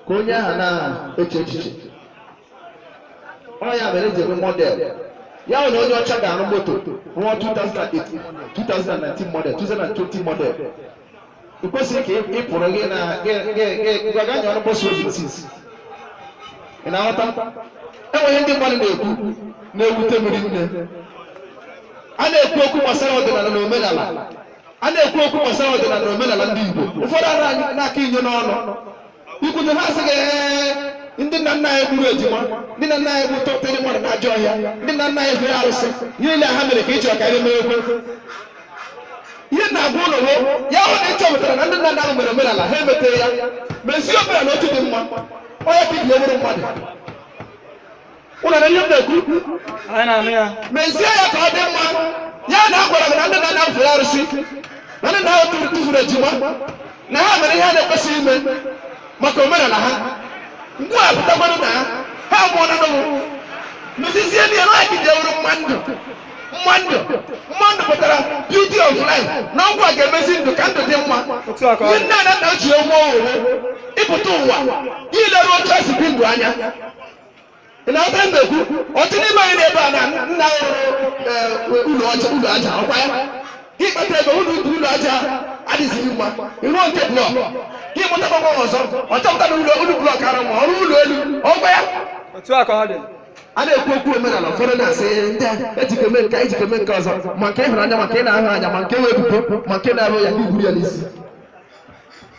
ka onye ahụ na-eche echiche ọ ya mere eji eme model ya wụ na onye ọcha ga-arụ moto rụọ 2008 2019 model 2020 model ị kwesịrị ka ị pụrụ gị na gwaga nya ọrụ bọsụ obi sis ị na-aghọta enwe ihe ndị mmadụ na-ekwu na-ewute m rinne a na-ekwu okwu gbasara ọdịnala na omenala a na-ekwu okwu gbasara ọdịnala na omenala ndị Igbo ụfọdụ a na- na-aka inye n'ọnụ i kwute ha sị gị "Ee, ndị nna nna anyị gburu ejima ndị nna nna anyị tụpụrụ mmadụ n'ajọ ọhịa ndị nna nna anyị fere arụsị ihe niile ha mere ka ị chọrọ ka anyị mekwee ihe m na-agwa ụnụ wụ ya wụ na ị chọpụtara na ndị nna nna ahụ mere omenala ha emeteghị ya mezie omenala otu dị mma ọ ya ka i ji wụrụ mmadụ ụnụ na-anụ ihe m na-ekwu anyị na-anụ ya mezie ya ka ọ dị mma ya na a gwara gị na ndị nna nna fere arụsị na ndị nna ahụ tụfuru ejima na ha mere ihe a na-ekwesịghị ime maka omenala ha mgbe a pụtakwara na ha amụọna ụnụ mezizie na ya ka e ji wụrụ mma ndụ mma ndụ mma ndụ pụtara beauty of life na ọ gịwa ga-emezi ndụ ka ndụ dị mma Otu a ka ọ dị. ihe nne na nna ji nye ụmụ ohere ịpụta ụwa ileru otu esi bi ndụ anya ị na-aghọta ihe m na-ekwu otu n'ime anyị nọ ebe a nna rụrụ ụlọ aja ụlọ aja ọkwa ya gị kpata ego ụlọ ụlọ aja adịzighị mma ị rụọ nke blọk gị mụtakwa nwa ọzọ ọ chọpụta na ụlọ ụlọ blọk adịghị mma ọ rụọ ụlọ elu ọkwa ya otu a ka ọ dị a na-ekwu okwu omenala ụfọdụ na-asị ndị a eji ike mee nke a, eji ike mee nke ọzọ ma nke ị hụrụ anya ma nke ị na-ahụghị anya ma nke wụ ebubo ma nke na-awụghị ya gị buru ya n'isi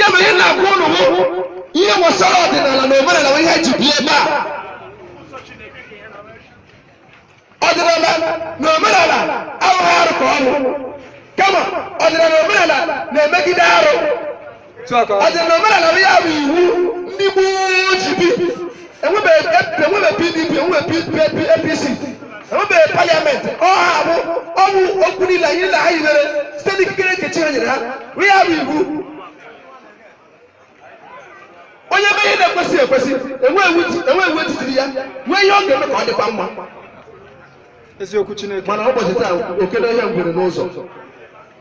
ya mere ihe m na-agwa ụnụ bụ ihe gbasara ọdịnala na omenala bụ ihe e ji bịa ebe a ọdịnala na omenala abụghị arụ ka ọ bụ kama ọdịnala na omenala na-emegide arụ ọdịnala na omenala bụ ya bụ iwu ndị gboo ji bi enwebeghị pdp enwebeghị apc enwebeghị paliamenti ọ ha bụ ọnụ okwu niile ndị nna ha hibere site n'ikikere nke chi ha nyere ha ọ ya bụ iwu onye mee ihe na-ekwesịghị ekwesị e nwee iwu e tiiri ya nwee ihe ọ ga-eme ka ọ dịkwa mma eziokwu chineke mana ụbọchị taa oke n'ọhịa ngwere n'ụzọ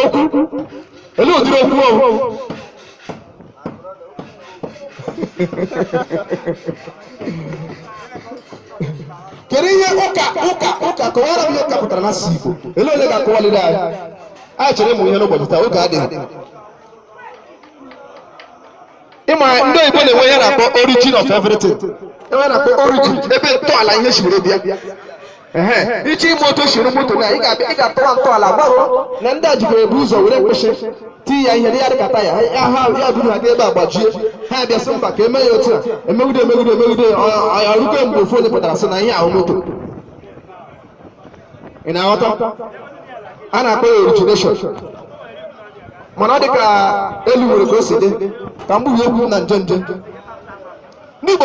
okwu olee ụdịrị okwu ọ wụ kedu ihe ụka ụka ụka kọwaara m ihe ụka pụtara n'asụsụ Igbo ele onye ga-akọwaliri anyị anyị chọrọ ịmụ ihe n'ụbọchị taa oge adịghị ị ma ndị oyibo na-enwe ihe na-akpọ origin of everything enwe na-akpọ origin ebe ntọala ihe si were bịa Ehe, iche ime otu siri moto na ị ga-abịa ị ga-atọwa ntọala gbaruo na ndị a jikwa ebu ụzọ were mkpịsị tii ya ihe dị ya dịka taya ha ha ya buru ha n'ebe a gbajie ha abịa sị mba ka eme ya otu a emegide emegide emegide ọ- ọ- ọ rukwe mgbe ofu onye pụtara sị na ihe ahụ moto ị na-aghọta a na-akpọ ya origination mana ọ dị ka elu nwere ka o si dị ka mgbe okwu na nje njem ndị Igbo